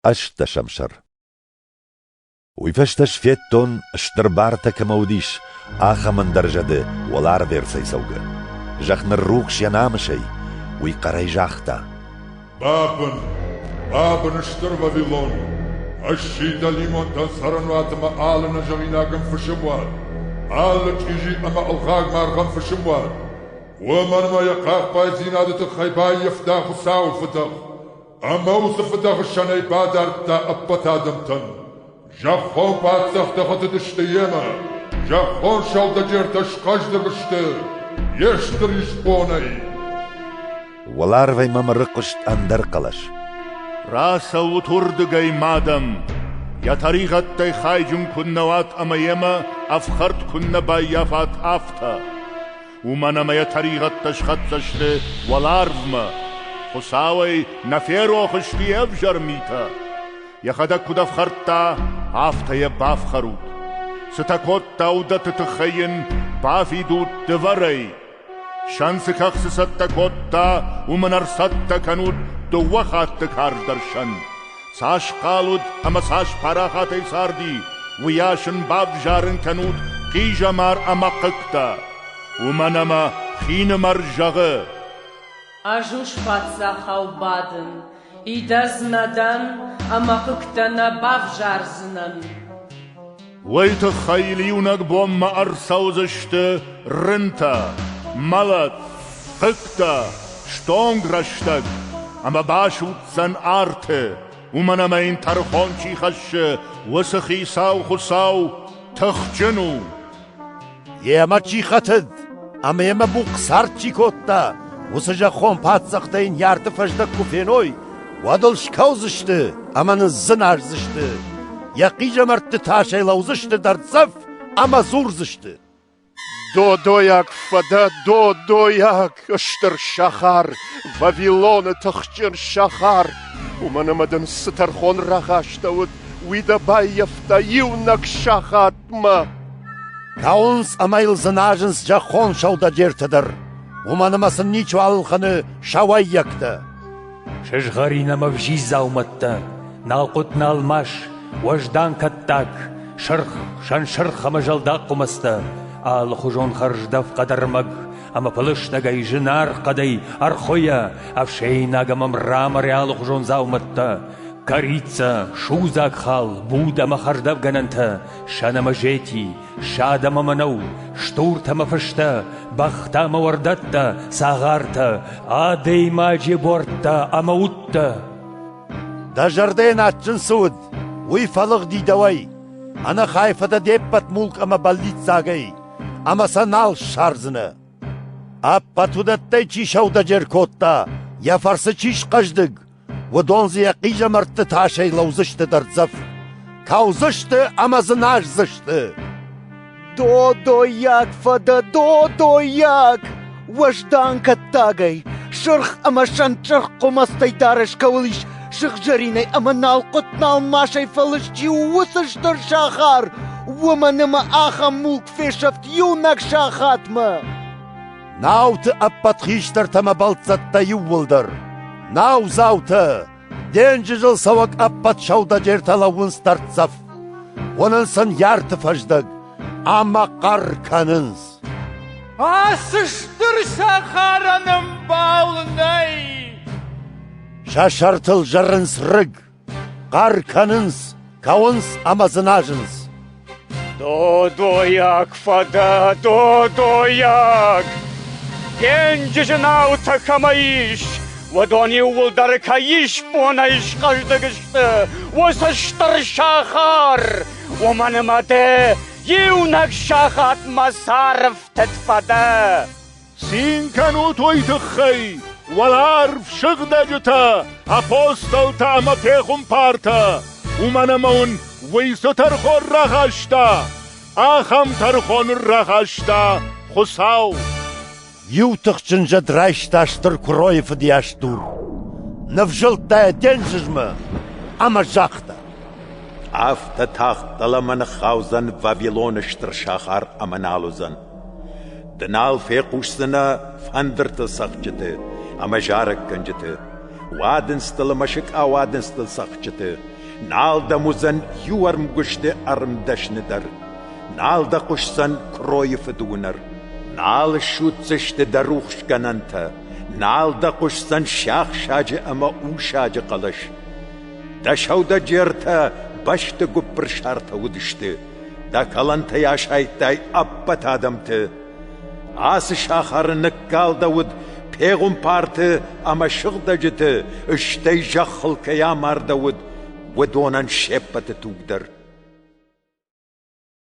ӕстдӕсӕм сӕр Уый фӕстӕ сфедтон, стыр бартӕ кӕмӕ уыдис, ахӕм ӕндӕр зӕды уӕларвӕрцӕй цӕугӕ. Зӕхх ныррухс йӕ намысӕй, уый хъӕрӕй загъта. «Бабын! Бабын, стыр Вавилон! Ӕссийтӕ лимонтӕн цӕрӕнуатмӕ алыны зӕгъинагӕн фысым уӕд, алы чъизи ӕмӕ ӕлгъаг маргъӕн фысым уӕд! Уымӕн мӕ йӕ хъахъхъӕддзинады тыххӕй баййӕфта Хуыцауы фыдӕх! Ӕмӕ уыцы фыдӕхсӕнӕй бадардта ӕппӕт адӕмтӕн. Зӕххон паддзӕхтӕ хӕтыдысты йемӕ, зӕххон сӕудӕджертӕ схъӕздыг сты йе стыр исбонӕй. Уӕларвӕй мӕм ӕрыхъуыст ӕндӕр хъӕлӕс. Рацӕут уырдыгӕй, мадам! Йӕ тӕригъӕдтӕй хайджын куыннӕ уат ӕмӕ йемӕ ӕфхӕрд куыннӕ баййафат, афтӕ. Уымӕн ӕмӕ йӕ тӕригъӕдтӕ схӕццӕ сты уӕларвмӕ. Хуыцауӕй нӕ ферох сты йе взӕр митӕ. Йӕхӕдӕг куыд ӕфхӕрдта, афтӕ йӕ бафхӕрут. Цытӕ кодта, уыдӕтты тыххӕй йын бафидут дывӕрӕй. Сӕн цы кӕхцы цӕттӕ кодта, уым ын ӕрцӕттӕ кӕнут дыууӕ хатты карздӕр сӕн. Цас хъал уыд ӕмӕ цас парахатӕй царди, уыйас ын бавзарын кӕнут хъизӕмар ӕмӕ хъыгтӕ. Уымӕн ӕмӕ хинымӕр зӕгъы: Ӕз паддзахау бадын, идӕдз нӕ дӕн ӕмӕ хъыгтӕ нӕ бавзардзынӕн. Уый тыххӕй il иунӕг бонмӕ ӕрцӕудзысты рынтӕ, мӕлӕт, фыгтӕ, стонг рӕстӕг, ӕмӕ басудздзӕн арты, уымӕн ӕмӕ йын тӕрхон чи хӕссы, уыцы Хицау Хуыцау тыхджын у. Йемӕ чи хӕтыд ӕмӕ йемӕ бухъ цард чи кодта, уыцы зӕххон паддзӕхтӕ йын йӕ арты фӕздӕг куы феной, уӕд ыл скӕудзысты ӕмӕ ныззынӕздзысты, йӕ хъизӕмӕртты тасӕй лӕудзысты дӕрддзӕф ӕмӕ дзурдзысты: «Додойаг фӕдӕ, додойаг!» Кыстыр сахар, Вавилоны тыхджын сахар. Уымӕн ӕмӕ дын цы тӕрхон рахастӕуыд, уый дӕ баййӕфта иунӕг сахатмӕ. Кӕуынц ӕмӕ йыл дзыназынц зӕххон сӕудӕджерты дӕр. Уымӕн ӕмӕ сын ничи ӕлхӕны сӕ уӕййӕгтӕ. Сызгъӕрин ӕмӕ взиз дзаумӕттӕ, налхъуыт налмас, уӕздан кӕттаг, сырх, сӕнсырх ӕмӕ зӕлдаг хъуымӕцтӕ, алыхуызон хӕрздӕф хъӕдӕрмӕг, ӕма пӕлӕстӕгӕй зинаргъ хъӕдӕй ӕрхуйӕ ӕфсейнаг ӕма мрамори аллихузон дзаумӕттӕ, кӕрицӕ, судзаг хал, буд ӕма хӕрдӕфгӕнӕнтӕ, сӕнӕмӕзети, садӕмӕ мӕнӕу, стуртӕмӕ фыстӕ, бӕхтӕмӕ уордӕттӕ, цагъартӕ, адӕймаджи буӕрттӕ ӕма удтӕ. Дӕ зӕрдӕн адджын цы уыд, уый фӕлыгъди дӕуӕй, ӕнӕхай фӕдӕ де ппӕт мулк ӕмӕ бӕллиццагӕй. ӕма сӕ нал ссардзӕнӕ. Ӕппӕт уыдӕттӕй чи сӕудӕджер кодта, йӕ фӕрцы чи схъӕздыг, уыдон дзы йӕ хъизӕмӕртты тасӕй лӕудзысты дӕрддзӕф, кӕудзысты ӕмӕ дзы наздзысты. Додойаг фӕдӕ, додойаг! Уӕздан кӕттагӕй, сырх ӕмӕ сӕнчъырх хъуымӕцтӕй дарӕс кӕуыл ис сыгъзӕринӕй ӕмӕ налхъуыт-налмасӕй фӕлыст чи у, уыцы стыр сахар, уымӕн ӕмӕ ахӕм мулк фесӕфт иунӕг сахатмӕ. Науты ӕппӕт хистӕртӕ ӕмӕ бӕлццӕттӕ иууылдӕр, наудзаутӕ, Денджызыл цӕуӕг ӕппӕт сӕудӕджертӕ лӕууынц дӕрддзӕф. Уынынц ын ярты фӕздӕг ӕмӕ хъӕр кӕнынц. Ацы стыр цӕхӕрӕн ӕмбал нӕй! Сӕ сӕртыл зырынц рыг, хъӕр кӕнынц, кӕуынц ӕмӕ дзыназынц. Додойаг фӕдӕ, додойаг! Денджызы наутӕ кӕмӕ ис, уыдон иууылдӕр кӕй исбонӕй схъӕздыг сты, уыцы стыр сахар, уымӕн ӕмӕ дӕ иунӕг сахатмӕ сӕрфтыд фӕдӕ. Цин кӕнут уый тыххӕй, уӕларв сыгъдӕджытӕ, апостолтӕ ӕмӕ пехуымпартӕ, уымӕн ӕмӕ уын уый цы тӕрхон рахаста, ахӕм тӕрхон рахаста Хуыцау. Иу тыхджын зӕд райста стыр куыройы фыдыйас дур, ныфзылдта йӕ денджызмӕ ӕмӕ загъта. Афтӕ тагъд дӕлӕмӕ ныххаудзӕн Вавилоны стыр сахар ӕмӕ нал уыдзӕн. Ды нал фехъусдзынӕ фӕндырты цӕгъдджыты ӕмӕ зарӕггӕнджыты, уадындзтыл ӕмӕ сыкъауадындзтыл цӕгъдджыты, нал дӕм уыдзӕн иу ӕрмгуысты ӕрмдӕсны дӕр, нал дӕ хъуысдзӕн куыройы фыдуынӕр, нал ссуддзысты дӕ рухсгӕнӕнтӕ, нал дӕ хъуысдзӕн сиахсаджы ӕмӕ усаджы хъӕлӕс. Дӕ сӕудӕджертӕ бӕсты гуыппырсартӕ уыдысты. Дӕ кӕлӕнтӕй асайдтай ӕппӕт адӕмты. Ацы сахары ныккалдӕуыд пегуымпарты ӕмӕ сыгъдӕджыты, стӕй зӕххыл кӕй амардӕуыд, уыдонӕн се ппӕты тугдӕр.